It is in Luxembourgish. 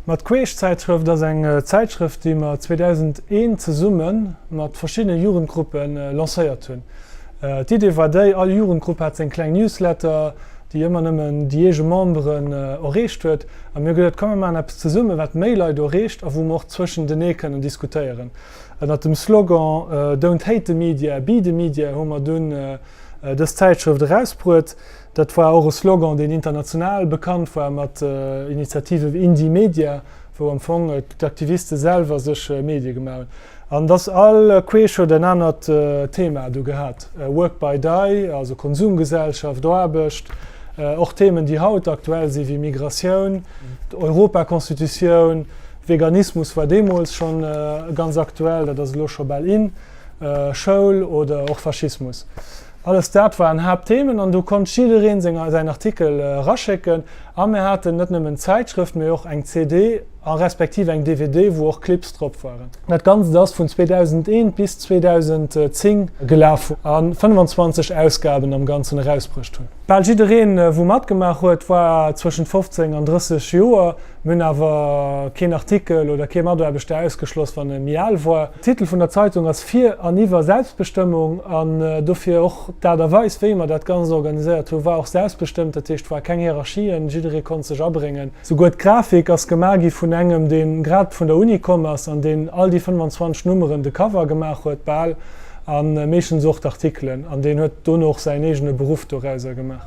Mat Queeschzäitschrëft ass eng Zäitschrëft, déi mer 2001 zesumme mat verschiddene Jugendgruppe lancéiert hunn. D'Idee war déi, all Jugendgrupp hat seng kleng Newsletter, déi ëmmer nëmmen déi eege Memberen erreecht huet, a mir hu gesot, komm mir maachen eppes zesumme wat méi Leit erreecht a wou mer och zwëschentenee kënnen diskutéieren. Ënnert dem Slogan Don't hate the media, be the media hu mer dunn dës Zäitschrëft erausbruet. Dat war och e Slogan, deen international bekannt war mat Initiative wéi Indymedia, wou am Fong d'Aktiviste selwer sech Medie gemaach hunn. An et ass all queesch huet en anert Thema do gehat, Work by die, also Konsumgesellschaft, Aarbecht, och Themen, déi haut aktuell sinn, wéi Migratioun, d'Europaconstitutioun, Veganismus war deemools schonn ganz aktuell, dat ass elo scho bal in. Schoul oder och Faschismus, alles dat waren Haaptthemen an do konnt jiddereen senger säin Artikel eraschécken. A mir haten net nëmmen d'Zäitschrëft, mee och eng CD a respektiv eng DVD, wou och Clips drop waren. Dat Ganzt ass vun 2001 bis 2010 gelaf a 25 Ausgaben am Ganzen erausbruecht hunn. Bal jiddereen, wou matgemaach huet, war zwëschent 15 an 30 Joer. Mir hunn awer keen Artikel oder kee Mataarbechter ausgeschloss, wann e méi al war. De Titel vun der Zeitung ass Fir an iwwer Selbstbestëmmung an dofir och d'Aart a Weis, wéi mer dat Ganzt organiséiert hunn, war och selbstbestëmmt. Dat heescht, et war keng Hierarchien, jidderee konnt sech abréngen. Souguer d'Grafik ass gemaach gi vun engem, deen grad vun der Uni komm ass an deen all déi 25 Nummeren, de Cover gemaach huet, bal, a meeschtens och d'Artikelen, an deen huet dono och säin eegene Beruff dorauser gemaach.